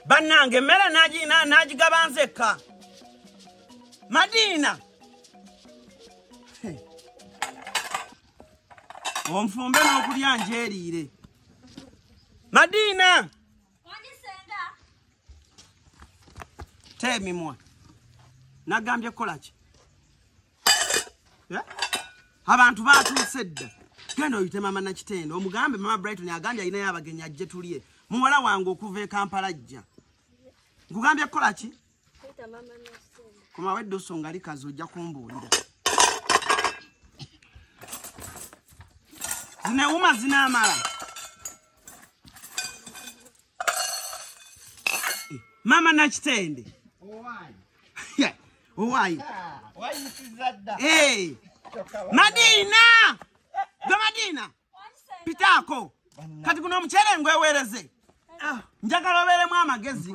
bannange emmere n'agigaba nzekka madiina onfumbe n'okulya njeeriire madiina teemimwa nagambye kukola ki eh? abantu batuuse dda genda oyite mama nakitendo omugambe mama brighton agambye alinayo abagenyi ajje tulye muwala wange okuva e kampala jja nkugambye kukola ki komawo edda osonga likazi ojja kumbuulira zinewuma zinaamala mama nakitende owayi madiina gwe madiina pitaako kati guno omukyere ngwewereze ah. njagala obeeremu amagezi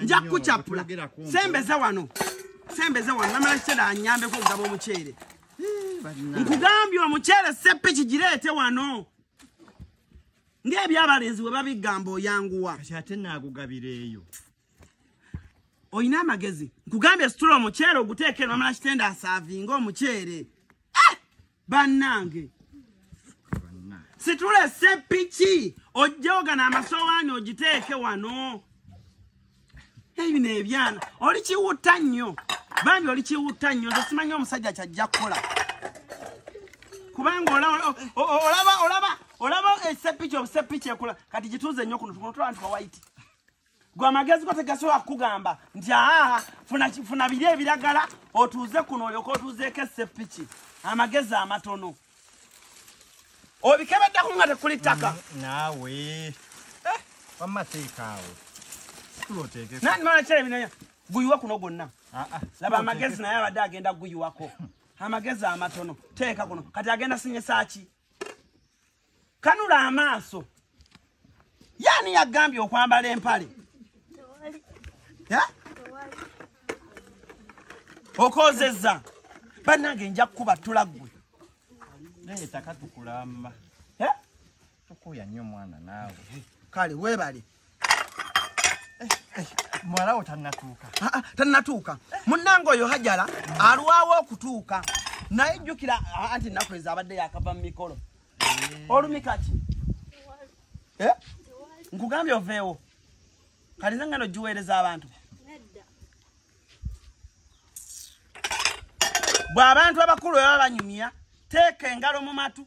nja kukucapula sembeze wano sembeze wano namala kiseera anyambeko okugaba omukyere nkugambye omukyere seppi kigireete wano ng'ebyabalenzi bwe babigamba oyanguwa ate naagugabireeyo oyina amagezi nkugambye situla omuceere oguteeke nomala kitenda asaavinga omuceere eh! bannange situla esepiki ojjogana amasowaani ogiteeke wano ebino ebyana oli kiwutta nnyo bambi oli kiwutta nnyo nze simanyi omusajja kyajja kukola kubanga olaba olaba olaba esepiki obusepiki ekula kati gituuze nnyo kuno tukono tulaba nti wawaiti gwe amagezi go tegasobola kukugamba nti aa funa biri ebiragala otuuze kuno olyoka otuuzeeko esepiki amagezi amatono obikebeddako nga tekuli ttaka mm, naawe eh, wamma teekaawo nani mala kyebinaya guyiwa kuno gwonna ah, ah, laba amagezi naye abadde agenda guyiwako amagezi amatono teeka kuno kati agenda sinyesaki kanula amaaso yaani yagambye okwambala empale okozeza banange nja kukuba tula gwe naye taka tukulamba tukuya nnyo mwana naawe kale webale muwalawo tannatuuka ah, ah, tannatuuka munnanga oyo hajala alwawo okutuuka naye jjukira ah, anti ennaku ezo abadde yakava mu mikolo eh. olumi kati eh? nkugambye oveewo kati nze ngano giweereza abantu bw'abantu abakulu baba banyumya teeka engalo mu matu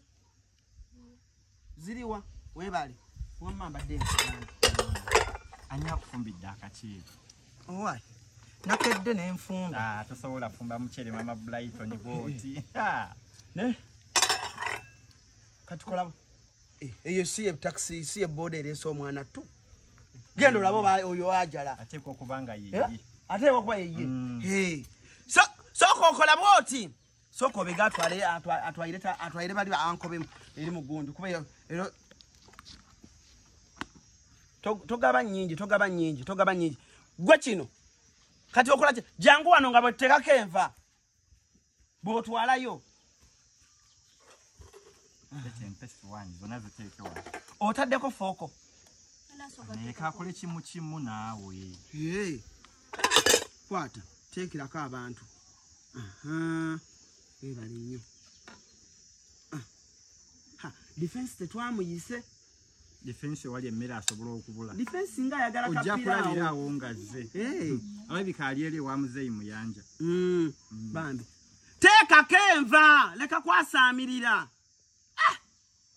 ziriwa webale wamma mbadde ani akufumbidde akakiiko owai nakedde nenfumba ah, tosobola fumba mucere mama blighton bwoti kati kolabo eh, eyo si etaxi si eboda eresa omwana tu genda olaba oyo ajala ateekwa okuba nga yeye eh? ateekwa okuba yeye mm. soka okola bwoti sooka obega atwalire bali ankobe eri mugunju kuba ero togaba nyingi togaba nyingi togaba nyingi gwe kino kati okolaki jangu wano nga bwetekako enva bwotwalayo otaddeko fooko ekakole kimu kimu naawe kwata teekirako abantu webale nnyo ah, defense tetwamuyise defense wali emmere asobola okubula defense nga ayagala kapira ojja kulabira awo ngazze hmm. alabika ali eri ewa muzeeyi muyanja hmm. hmm. bambi teekako enva leka kwasaamirira ah!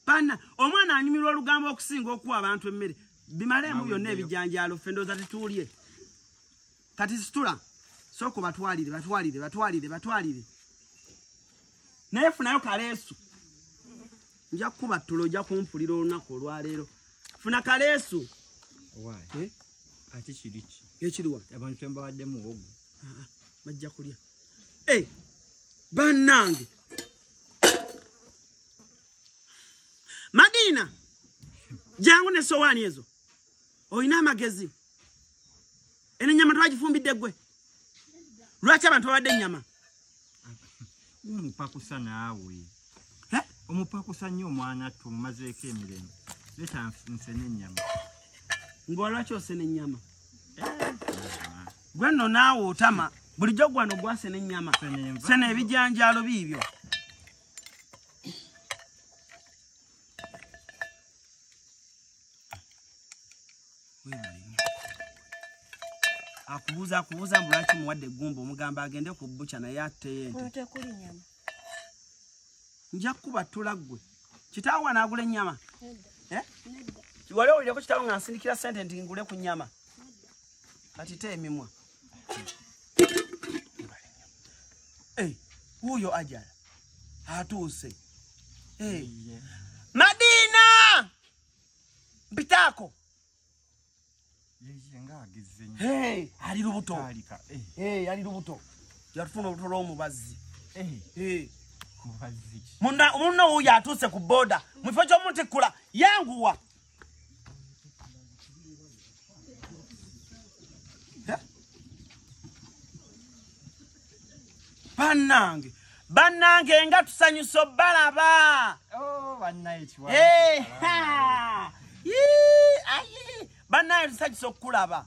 bana omwana anyumirwa olugambo okusinga okuwa abantu emmere bimalemu byonna ebijanjaalo ffe ndooza tetuulye kati situla sooka batwalire batwalire batwalire batwalire naye funayo kaleesu nja kukuba ttulo ojja kumpulira olunaku olwaleero funa kaleesu eh? ate kiriki ekiriwa abantu kyembawadde muwogo ah, ah, bajja kulya eh, bannange madiina jangu ne sowaani ezo olina amagezi eno enyama twagifumbidde gwe lwaki abantu babadde enyama omupakusa naawe omupakusa nnyo omwana tu mumazeeko emirembe leta nsena enyama ngaolwaki osena enyama eh, gwe nno naawe otama bulijjo gwano gwasena enyama sena ebijanjaalo biibyo akubuuza akubuuza mbu lwaki muwadde eggumba omugamba agende ku buca naye atteyo ente nja kukuba ttula ggwe kitaawo wanaagula ennyama eh? wali owulireko kitaawo nga nsindikira sente nti ngule ku nnyama kati te emimwa wuuyo ajala atuuse hey. yeah. madiina mpitaako hey, ali lubuto eh. hey, ali lubuto yatufuna olubuto lw'omubazzi eh. hey. munna wuuyo atuuse ku booda mu kifo ky'omutikkula yanguwa bannange bannange nga tusanyusa obalaba oh, bannange tusanyusa okukulaba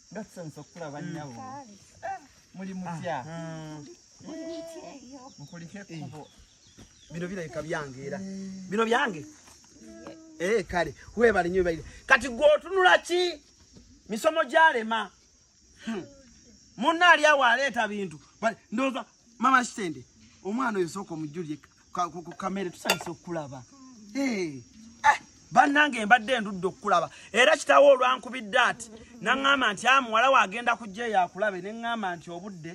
nga tusanyusa okukulaba mm. nnyabo eh, muli mutya ah, ah. mukulike ekkubo bino birabika byange era bino byange ee eh, kale webale nyo webalire kati gwe otunula ki misomo gyalema hmm. munna ali awo aleeta bintu ndooza mama kitende omwana oyo sooka omujjulire ku kamere tusanyusa okukulaba eh, bannange mbadde endudde okukulaba era kitawo olwankubidde ati naŋŋamba nti a ah, muwala we agenda kujja eyo akulabe ne ŋŋamba nti obudde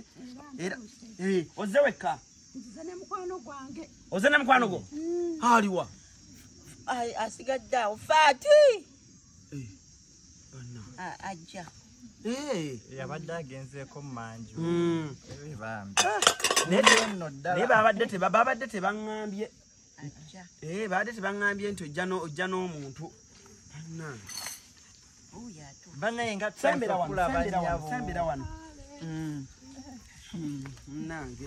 era eh, ozze wekka oze ne mukwano gwo mm. aliwa asigadde awo faati eh. ajja yabadde agenzeeko mumanju hmm. naye babadde tebaŋambye eh, babadde tebaŋambye nti ojja n'omuntu banaye nga sembera wano sembera wano hmm. Hmm. nange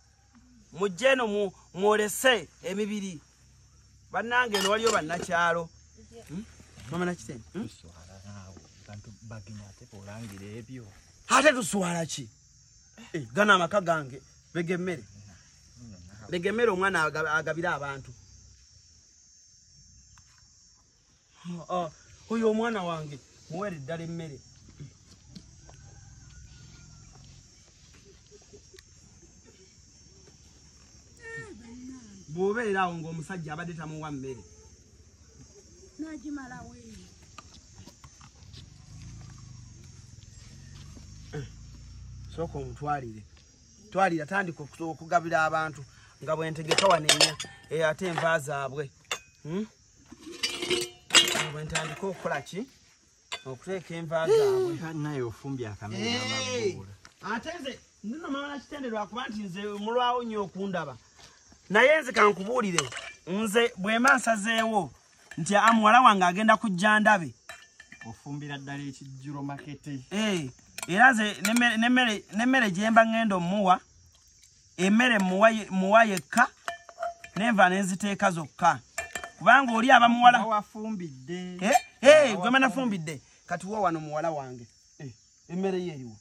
mujje eno mwolese emibiri bannange eno waliyo bannakyalo hmm? mama nakitende hmm? ate tuswala ki eh, gana amaka gange begemmere begemmere omwana agabire abantu oyo omwana wange muwere ddala emmere bwobeera awo ngaomusajja abadde tamuwa mmere eh, sooka omutwalire twalira tandika okugabira abantu nga bwentegeka wanenya eh, ate enva zaabwe hmm? bwentandika okukola ki okuteeka enva zaabwenaye ofumbye akamaabuula ate nze ndino mama nakitende lwakuba nti nze mulwawo nnyo okundaba naye nze kankubuulire nze bwema nsazeewo nti a muwala wange agenda kujja ndabe ofumbira ddala ekijjuro makete eh, era nze nemmere gyemba ŋŋenda omuwa emmere muwa yekka nenva nenziteeka zokka kubanga oli aba muwala wafumbidde eh, eh, gwe manafumbidde kati wa wano muwala wange eh, emmere ye eriwo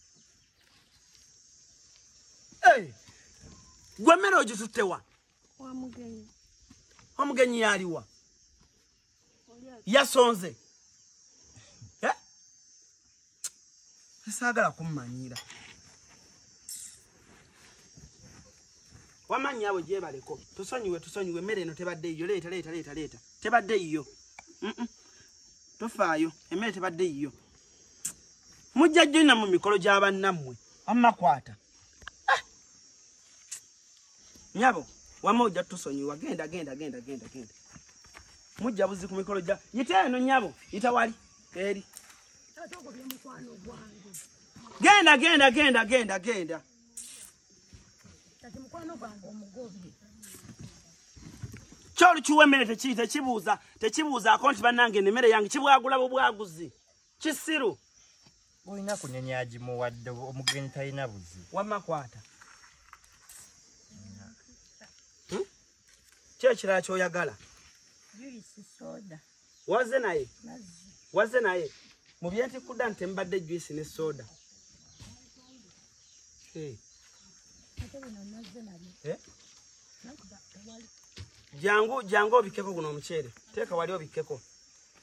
gwe mmere ogituttewa omugenyi yaliwa yasonze eh? saagala kummanyiira wamanyi abo gyebaleko tusonyiwe tusonyiwe emmere eno tebadde yiyo leeta leeta leeta leeta tebadde yiyo tofaayo emmere tebadde yiyo mujja jjonna mu mikolo gy'abannammwe wammakwata nyabo wama ojja tusonyiwa genda genda genda genda genda mujja buzi ku mikolo gya yita eno nyabo yita wali eri genda genda genda genda genda kyolukiwa emmere tekibuuza tekibuuzaako nti bannange nemere yange kibwagula bubwaguzi kisiru olina kunyenya agimuwadde omugenyi talina buzi wamma kwata hmm? ki ekirala kyoyagala wazze naye wazze naye mu byentikudda nti mbadde juisi ne soda eh? jangu jangu obikkeko guno omuceere teeka wali obikkeko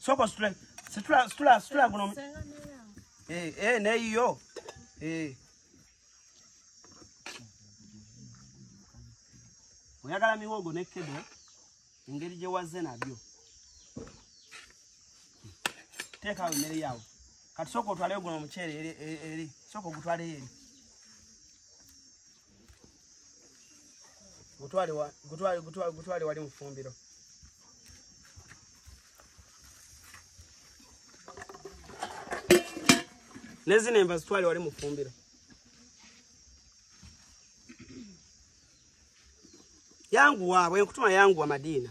soko situla situla situla situla guno eh eh ne yo eh oyagala miwogo ne kedo engeri gye wazze nabyo teekawo emmere yawo kati sooka otwaleyo guno omuceere eri sooka ogutwaleyo eri gutwale wa gutwale gutwale gutwale wali mufumbiro nezine mba zitwale wali mufumbiro yangu wabwe nkutuma yangu wa madina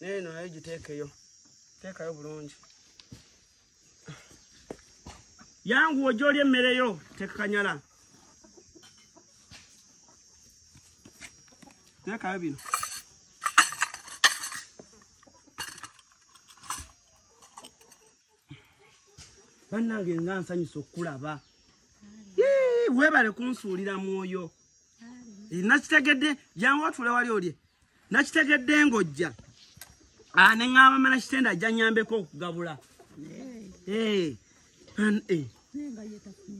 neeno nayo giteekeyo teekayo bulungi yanguwa ojja oli emmere yo tekakanyala teekayo bino bannange nga nsanyusa okukulaba webale kunsuulira mwoyo nakitegedde jangu otule wali olye nakitegedde ng'ojja ah, ne ŋŋamba mala kitenda ajja nnyambeko okugabula eh, eh.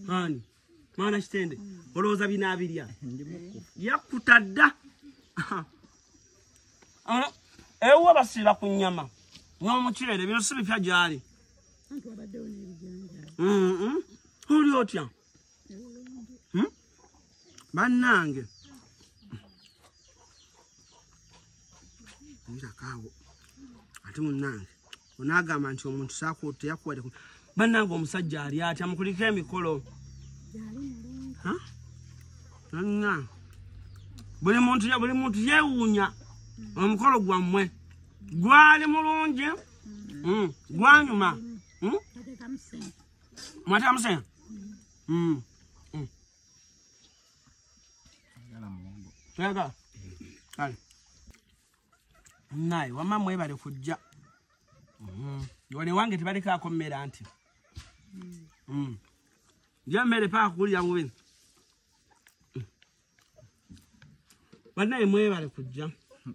ani mwana kitende olowooza binaabirya yakkuta dda ewuwo basiiba ku nnyama n'omuceere bino si bipya gyali oli otya Hmm? bannange nyirakaawo ate munnange onaagamba nti omuntu sakuteyakuwadeko bannange omusajja ali atya mukulika emikolo anna buli muntu buli muntu yeewuunya omukolo gwammwe gwali mulungi hmm? gwanyuma hmm? Mwataka msena? Mm. Mm. Tega. Kale. Naye wamma mwebale kujja. Mm. Wale wange tebaleka akomera anti. Mm. mm. Nja mmere paa kukulira bubini. Mm. Banaye mwebale kujja. Mm.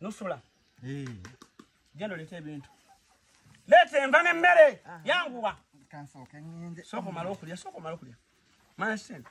nusula eh. genda oleeta ebintu leeta enva n'emmere ah. yanguwa sooka omala okulya sooka omala okulya mana sente